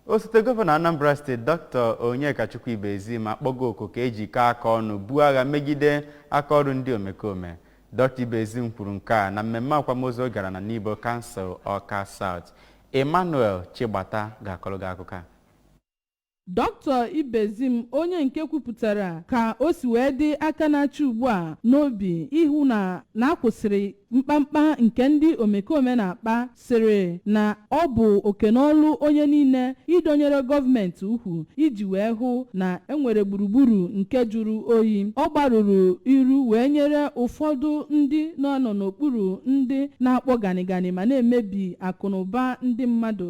osote gọvanọ anambra steeti dr onyekachukwu ibezim akpọgo oku ka e jikọọ aka ọnụ buo agha megide aka ọrụ ndị omekome dr ibezim kwuru nke a na mmemme akwamozu ọ gara na nibo kansụl ọka saut emmanuel chigbata ga-akọrọ gị akụkọ a Dr. Ibezim onye nke kwupụtara ka o si wee dị aka na-achị ugbu a n'obi ịhụ na a kwụsịrị mkpamkpa nke ndị omekome na-akpa sịrị na ọ bụ oke n'ọlụ onye niile ịdọnyere gọọmenti ukwu iji wee hụ na enwere gburugburu nke jụrụ oyi. Ọ gbarụrụ iru wee nyere ụfọdụ ndị na-anọ n'okpuru ndị na-akpọ ganịganị ma na-emebi akụnụba ndị mmadụ.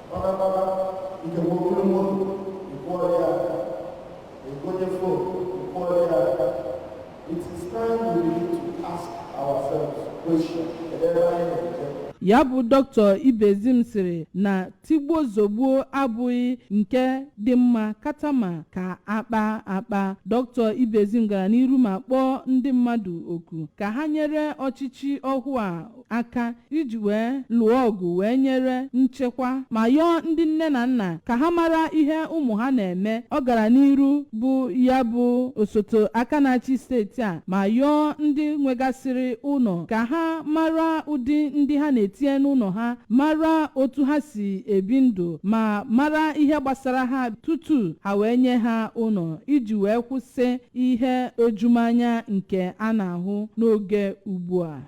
ya bụ dr ibezim sịrị na tigbuo zogbuo abụghị nke dị mma katama ka a kpaa akpa dr ibezim gara n'iru ma kpọọ ndị mmadụ oku ka ha nyere ọchịchị ọhụụ a aka iji wee lụọ ọgụ wee nyere nchekwa ma yọọ ndị nne na nna ka ha mara ihe ụmụ ha na-eme ọ gara n'iru bụ ya bụ osote aka na-achị steeti a ma yọọ ndị nwegasịrị ụnọ ka ha mara ụdị ndị ha na-etinye n'ụnọ ha mara otu ha si ebi ndụ ma mara ihe gbasara ha tutu ha wee nye ha ụnọ iji wee kwụsị ihe ojumanya nke a na-ahụ n'oge ugbu a